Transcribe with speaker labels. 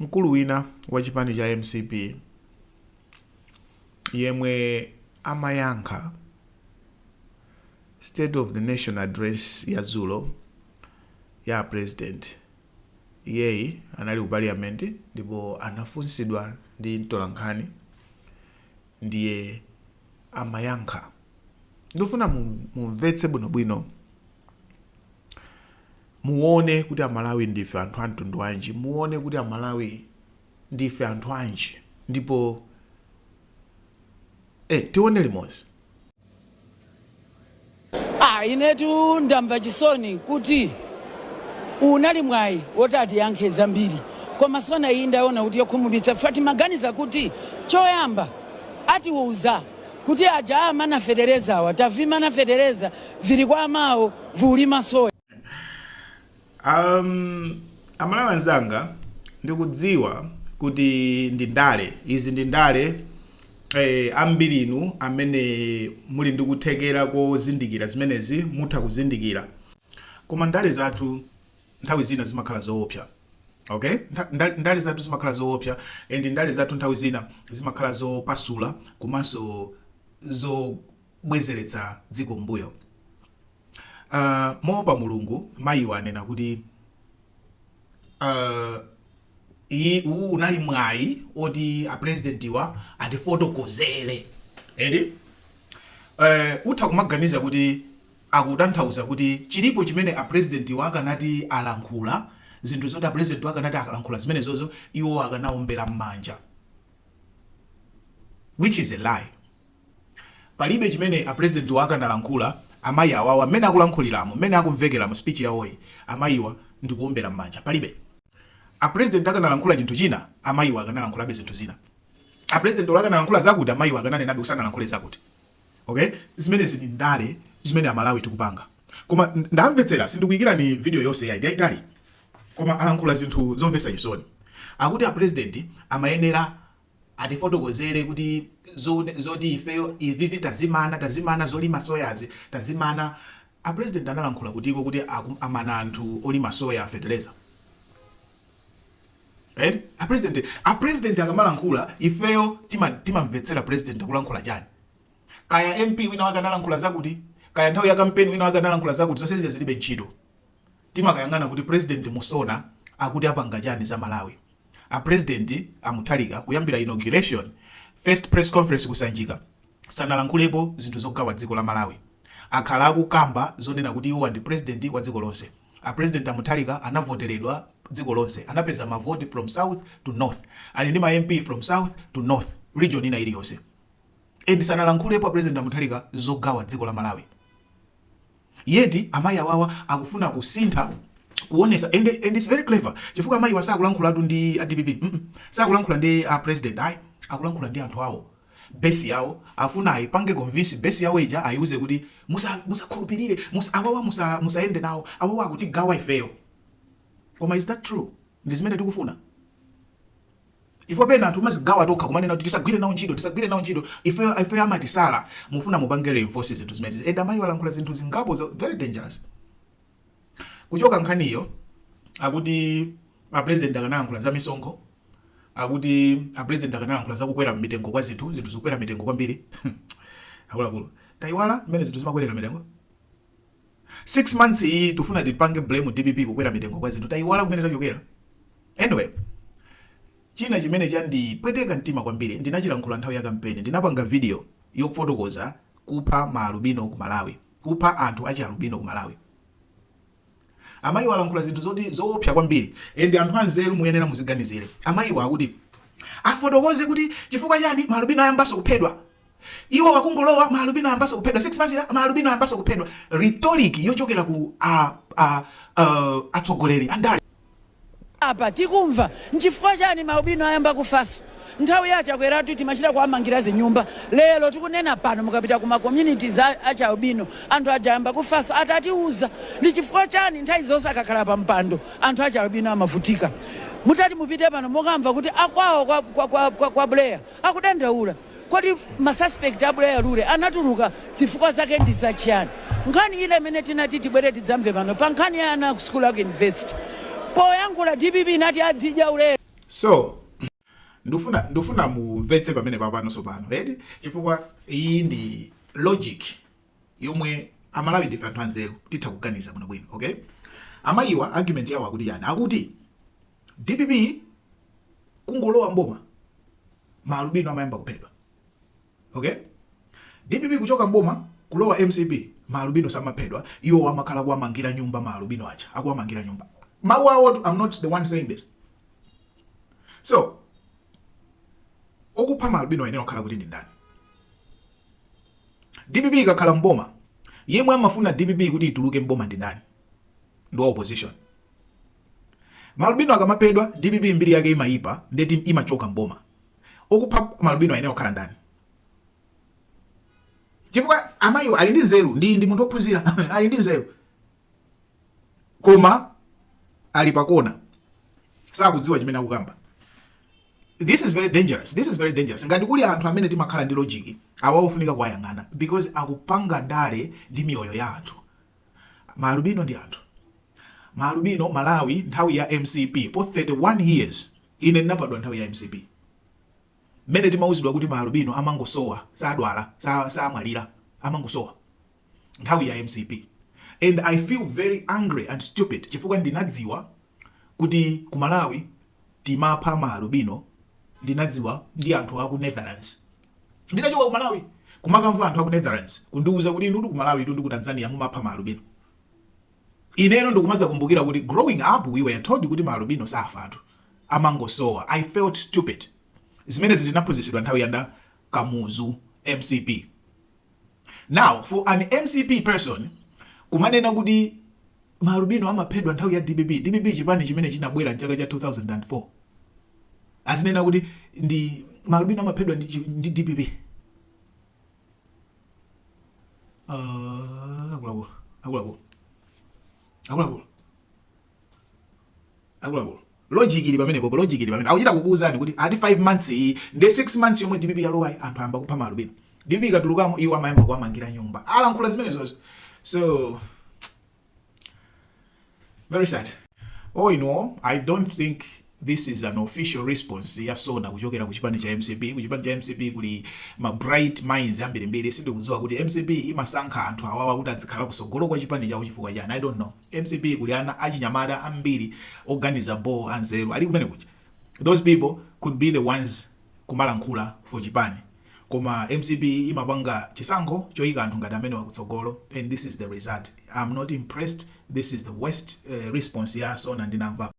Speaker 1: Mkulu wina wa chipani cha mcp yemwe amayankha State of the Nation Address ya dzulo ya a President, iyeyi anali ku Parliament ndipo anafunsidwa ndi mtolankhani ndiye amayankha. Ndifuna mumvetse bwinobwino Muone kuti amalawi ndife anthu amtundu wanji, muone kuti amalawi ndife anthu anji ndipo eh tione limozi.
Speaker 2: Ah, inetu ndamva chisoni kuti unali mwayi woti atiyankhe zambiri koma SONA iyi ndaona kuti yokhumudwitsa fa timaganiza kuti choyamba atiuza kuti aja amana fetereza awa tavimana fetereza vili kwa amawo volima soya.
Speaker 1: Ahm amalawi anzanga ndikudziwa kuti ndi ndale izi ndi ndale eh, ambiri inu amene muli ndi kuthekera kozindikira zimenezi mutha kuzindikira koma ndale zathu nthawi zina zimakhala zoopsa okay ndale, ndale zathu zimakhala zoopsa and ndale zathu nthawi zina zimakhala zopasula komanso zobwezeretsa dziko mmbuyo uh, ah, moopa mulungu mayiwa anena kuti uh, iyi uwu unali mwayi oti apresidentiwa atifotokozere eti uh, utha kumaganiza kuti akutanthauza kuti chilipo chimene a president wa akanati alankhula, zinthu zoti a president wa akanati alankhula zimenezozo iwo akanaombera mmanja which is a lie. Palibe chimene a president wa akanalankhula amayi awawa mmene akulankhuliramo, mmene akumvekera mu speech yawoyi amayiwa ndikuombera mmanja palibe. A president akanalankhula chinthu china amayiwa akanalankhulabe zinthu zina. A president olo akanalankhula zakuti amayiwa akananenabe kuti sanalankhule zakuti. Ok, zimenezi ndi ndale zimene Amalawi tikupanga. Koma ndamvetsera, sindikuikirani video yonse yayi, ndiyaitali. Koma alankhula zinthu zomvetsa chisoni. Akuti a president amayenera atifotokozere kuti zoti ifeyo ivivi tazimana, tazimana zolima soyazi, tazimana. A president analankhula kutiko kuti amana anthu olima soya feteleza? Eti a president a president akamalankhula ifeyo tima timamvetsera president akulankhula chani. Kaya MP wina wake analankhula zakuti, kaya nthawi ya kampeni wina wake analankhula zakuti zonse zija zilibe ntchito. Timakayang'ana kuti president mu SONA akuti apanga chani za Malawi. A president a Mutharika kuyambira inauguration, first press conference ku Sanjika sanalankhulepo zinthu zogawa dziko la Malawi. Akhala akukamba zonena kuti iwowa ndi president wa dziko lonse. A president a Mutharika anavoteredwa dziko lonse. Anapeza ma vote from south to north. Ali ndi ma MP from south to north, region ina iliyonse. And sanalankhulepo a president a Mutharika zogawa dziko la Malawi. Yet amayi awawa akufuna kusintha kuonesa and, and it's very clever chifukwa amayiwa sakulankhulatu ndi a dpp mm -mm. sakulankhula ndi a president ayi akulankhula ndi anthu awo base yawo afuna ayipange convince base yawo ija ayiuze kuti musa musakhulupirire musa, awawa musa musayende nawo awawa akutigawa ifeyo koma is that true ndi zimene tikufuna ifo pena anthu mazigawa tokha kumanena kuti tisagwire nawo ntchito tisagwire nawo ntchito ifeyo ifeyo amatisala mufuna mupange reinforce zinthu zimenezi and amayiwa alankhula zinthu zingapo za- very dangerous kuchoka nkhaniyo akuti a president akanayankhula za misonkho akuti a president akanalankhula za kukwera mitengo kwa zinthu, zinthu zikukwera mitengo kwambiri akuluakulu tayiwala mmene zinthu zimakwerera mitengo 6 months iyi tufuna tipange blame dpp kukwera mitengo kwa zinthu tayiwala kumene tachokera anyway china chimene chandipweteka mtima kwambiri ndinachilankhula nthawi ya kampeni ndinapanga video yofotokoza kupha maalubino ku malawi kupha anthu achialubino ku malawi Amayiwa alankhula zinthu zoti zoopsa kwambiri and anthu anzeru muyenera muziganizire. Amayiwa akuti afotokoze kuti chifukwa chani ma alubino ayambanso kuphedwa. Iwo akungolowa ma alubino ayambanso kuphedwa 6 months yi ma alubino ayambanso kuphedwa. Rhetoric yochokera ku a a a atsogoleri andale.
Speaker 2: Apa tikumva nchifukwa chani ma alubino ayamba kufaso? Nthawi ya a Chakweratu timachita kuwamangira zinyumba lero tikunena pano mukapita ku ma communities a achi albino anthu aja ayamba kufaso atatiuza ndi chifukwa chani nthawi zonse akakhala pa mpando anthu achi albino amavutika mutati mupite pano mukamva kuti akwawo kwa kwa kwa kwa Buleya akudandaula Kodi ma suspect a Buleya Lule anatuluka zifukwa zake ndi za chiyani? Nkhani ile imene tinati tibwere tidzamve pano pa nkhani ya ana a ku sukulu a ku university. Poyankhula dpp inati azidya ulere. So
Speaker 1: ndufuna ndufuna mumvetse pamene papano sopano eti chifukwa iyi ndi logic yomwe amalawi ndife anthu anzeru titha kuganiza bwinobwino okay amayiwa argument yawo akuti chani akuti Dpp kungolowa mboma ma albino amayamba kuphedwa. Okay? Dpp kuchoka mboma kulowa mcp ma albino samaphedwa iwowa amakhala kuwamangira nyumba ma albino acha akuwamangira nyumba. Mawu awo I'm not the one saying this. So okupha ma albino ayenera kukhala kuti ndi ndani? DPP ikakhala mboma yemwe amafuna DPP kuti ituluke mboma ndi ndani? Ndi opposition. Maalubino akamaphedwa dpp mbiri yake imayipa ndeti imachoka m'boma. Okupha maalubino ayenera kukhala ndani? Chifukwa amayiwo ali ndi nzeru ndi munthu ophunzira ali ndi nzeru koma ali pakona sakudziwa chimene akukamba. This is very dangerous. Ngati kuli anthu amene timakhala ndi logic awa ofunika kuwayang'ana because akupanga ndale ndi miyoyo ya anthu. Ma alubino ndi anthu. Ma alubino Malawi nthawi ya mcp for 31 years ine ndinabadwa nthawi ya mcp mmene timauzidwa kuti ma alubino amangosowa sadwala samwalira amangosowa nthawi ya mcp and I feel very angry and stupid chifukwa ndinadziwa kuti ku Malawi timapha ma alubino ndinadziwa ndi anthu aku Netherlands Nditachoka ku Malawi kumakamva anthu aku Netherlands kundiuza kuti inutu ku Malawi tu ndi ku Tanzania mumapha ma alubino. Ineno ndikumazakumbukira kuti growing up we were told kuti ma alubino safatu amangosowa. I felt stupid. Zimenezi tinaphunzitsidwa nthawi ya nda Kamuzu mcp. Now for an mcp person kumanena kuti ma alubino amaphedwa nthawi ya dpp, dpp chipani chimene chinabwera mchaka cha 2004 azinena kuti ndi ma alubino amaphedwa ndi, ndi dpp uh, akulaku akulaku akulaku akuluakulu logic ili pamenepopo logic ili pamene akuchita kukuuzani kuti ati 5 months ndi 6 months yomwe DPP yalowayi anthu ayamba kupha maalubino DPP ikatulukamo iwo amayamba kuwamangira nyumba alankhula zimenezozo so very sad oh you know i don't think This is an official response ya Sona kuchokera ku chipani cha mcp. Ku chipani cha mcp kuli ma bright minds ambirimbiri. Sindikudziwa kuti mcp imasankha anthu awawa kuti azikhala kutsogolo kwa chipani chawo chifukwa chani. I don't know. Mcp kuli ana achinyamata ambiri oganiza bho anzeru ali kumene kuja. Those people could be the ones kumalankhula for chipani. Koma mcp imapanga chisankho choyika anthu ngati amenewa kutsogolo and this is the result. I'm not impressed. This is the worst uh, response ya Sona ndinamvapo.